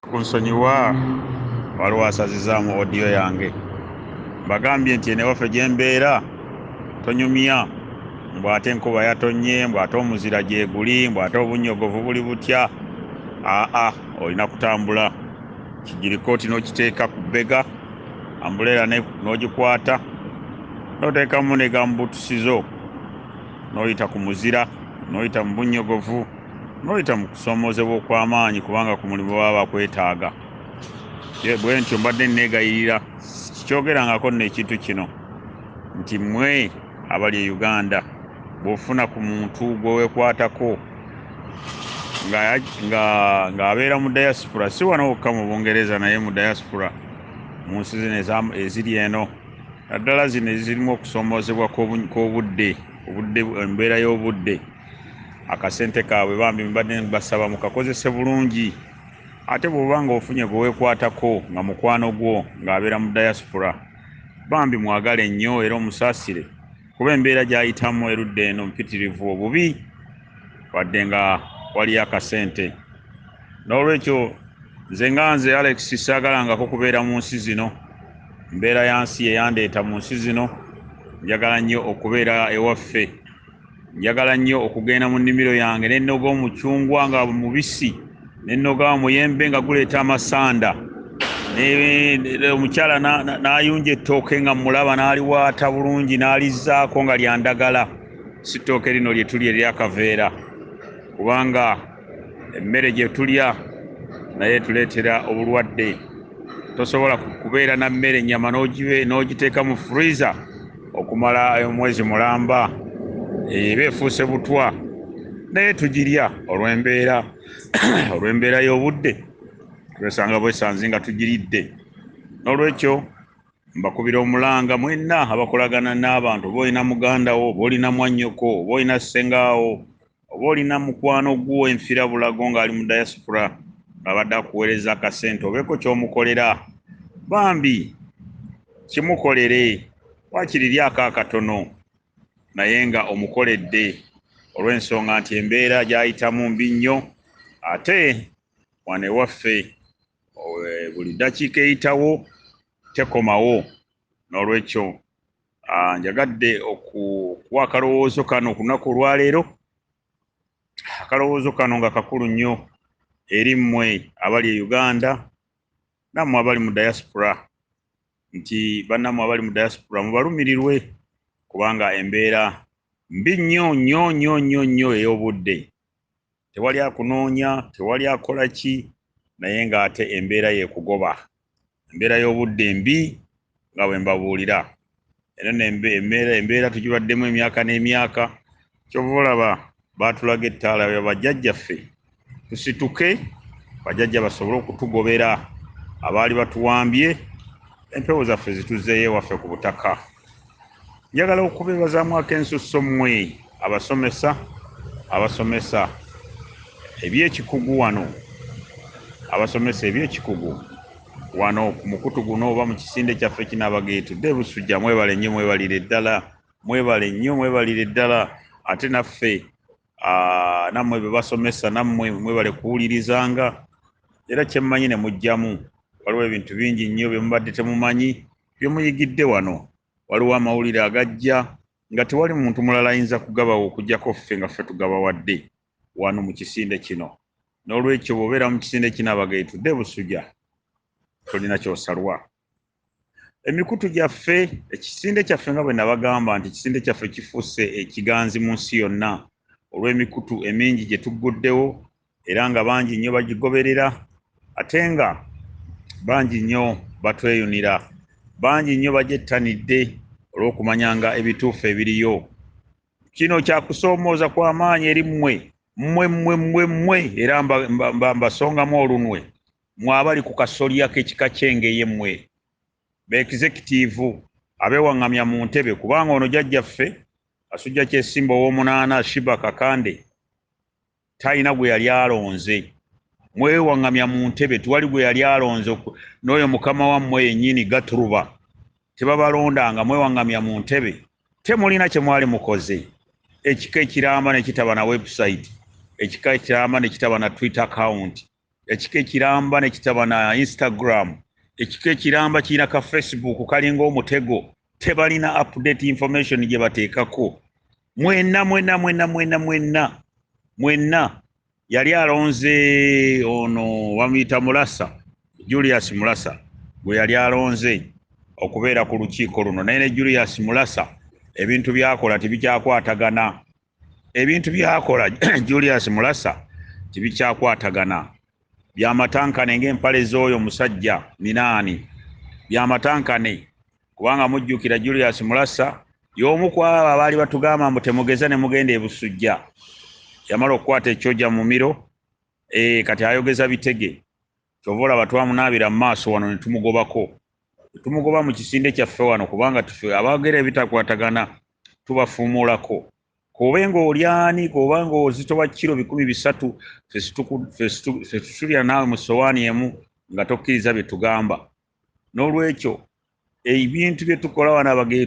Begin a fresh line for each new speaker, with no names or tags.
Kunsonyiwa waliwo asazizaamu audio yange bagambye nti enewaffe gyembeera tonyumya mbu ate enkuba yatonnye mbu ate omuzira gyeguli mbu ate obunnyogovu buli butya aa olina kutambula kigirikooti n'okiteeka ku bbega ambuleera n'ogikwata n'oteekamu ne gambuutusi zo n'oyita ku muzira n'oyita mu bunnyogovu noyita mu kusoomozebwa okw'amaanyi kubanga ku mulimu baba bakwetaaga bwe ntyo mbadde nneegayirira sikyogerangako nno ekintu kino nti mmwe abali e uganda bw'ofuna ku muntu gwe weekwatako ng'abeera mu diaspora si wano wokka mu bungereza naye mu diaspora mu nsi zino eziri eno naddala zino ezirimu okusoomoozebwa kw'obudde obudde embeera y'obudde akasente kaabwe bambi mbadde basaba mukakozese bulungi ate bwoba nga ofunye gwewekwatako nga mukwano gwo ng'abeera mu diaspora bambi mwagale nnyo era omusaasire kuba embeera gyayitamu erudde eno mpitirivu obubi wadde nga waliyo akasente n'olwekyo nze nga nze alex saagalangako kubeera mu nsi zino mbeera ya nsi yeyandeeta mu nsi zino njagala nnyo okubeera ewaffe njagala nnyo okugenda mu nnimiro yange ne nnoga omucungwa nga mubisi ne nnoga omuyembe nga guleeta amasanda omukyala n'ayunja ettooke nga mmulaba n'aliwaata bulungi n'alizzaako nga lya ndagala si ttooke lino lye tuli eryakaveera kubanga emmere gye tulya naye etuleetera obulwadde tosobola kubeera na mmere ennyama n'ogiteeka mu freezer okumala omwezi mulamba eba efuuse butwa naye tugirya olw'embeera olw'embeera y'obudde twesanga bwesanze nga tugiridde n'olwekyo mbakubira omulanga mwenna abakolagana n'abantu oba olina muganda wo oba olina mwannyoko oba olina ssengaawo oba olina mukwano gwo enfira bulago ng'ali mu diaspora ng'abadde akuweereza akasente obeeko ky'omukolera bambi kimukolere wakiri lyako akatono naye nga omukoledde olw'ensonga nti embeera gy'ayitamu mbi nnyo ate wano ewaffe buli ddakiika eyitawo tekomawo n'olwekyo Ah, njagadde okuwa akalowoozo kano ku lunaku olwaleero akalowoozo kano nga kakulu nnyo eri mmwe abali e uganda nammwe abali mu diaspora nti bannammwe abali mu diaspora mubalumirirwe kubanga embeera mbi nnyo nnyo nnyo nnyo nnyo ey'obudde tewali akunoonya tewali akola ki naye ng'ate embeera yekugoba embeera y'obudde mbi nga bwe mbabuulira eno nembeera embeera tugibaddemu emyaka n'emyaka kyova olaba baatulaga ettaala ya bajjajjaffe tusituke bajjajja basobole okutugobera abaali batuwambye empewo zaffe zituzzeeyo ewaffe ku butaka njagala okubeebazaamu akensusso mmwe abasomesa abasomesa ebyekikugu wano abasomesa ebyekikugu wano ku mukutu guno oba mu kisinde kyaffe kinaabageetudde busujja mwebale nnyo mwebalire ddala mwebale nnyo mwebalire ddala ate naffe nammwe bebasomesa nammwe mwebale kuwulirizanga era kyemmanyi ne mujjamu waliwo ebintu bingi nnyo byemubadde temumanyi Bye muyigidde wano, waliwo amawulire agajja nga tewali muntu mulala ayinza kugabawa okuggyako ffe nga ffe tugabawadde wano mu kisinde kino. N'olwekyo bw'obeera mu kisinde kino abaga etudde e Busuja, tolina ky'osalwa. Emikutu gyaffe, ekisinde kyaffe nga bwe nabagamba nti ekisinde kyaffe kifuuse ekiganzi mu nsi yonna olw'emikutu emingi gye tugguddewo era nga bangi nnyo bagigoberera ate nga bangi nnyo batweyunira bangi nnyo bagyettanidde olw'okumanyanga ebituufu ebiriyo kino kyakusoomooza kw'amaanyi eri mmwe mmwe mmwe mmwe mmwe era mbasongamu olunwe mwe abali ku kasolya k'ekika ky'engeye mmwe beekizekitiivu abeewaŋŋamya mu ntebe kubanga ono jajjaffe asujja kyesimba ow'omunaana shiba kakande talina gwe yali alonze mwewaŋŋamya mu ntebe tewali gwe yali alonze n'oyo mukama wammwe yennyini gaturuba tebabalondanga mwewaŋŋamya mu ntebe temulina kye mwali mukoze ekika ekiramba ne kitaba na webusayiti ekika ekiramba ne kitaba na twitter akawunti ekika ekiramba ne kitaba na instagram ekika ekiramba kirina ka facebook kalinga omutego tebalina update information gye bateekako mwena mwena mwena mwena mwena mwena yali alonze ono bamuyita mulasa julius mulasa gwe yali alonze okubeera ku lukiiko luno naye ne julius mulasa ebintu byakola tebikyakwatagana ebintu byakola julius mulasa tibikyakwatagana byamatankane ngaempale z'oyo musajja minaani byamatankane kubanga mujjukira julius mulasa y'omu ku abo abaali batugamba mbu temugeza ne mugenda ebusujja yamala okukwata ekyoja mumiro e, kati ayogeza bitege kyova olaba twamunaabira mu maaso wano ne tumugobako tumugoba mu kisinde kyaffe wano kubanga tufe abaogera ebitakwatagana tubafuumuulako kobe ng'olyani koba ng'ozito wa kiro bikumi bisatu fetusulira naawe mu sowaani emu nga tokkiriza bye tugamba n'olwekyo ebintu bye tukola wano abagee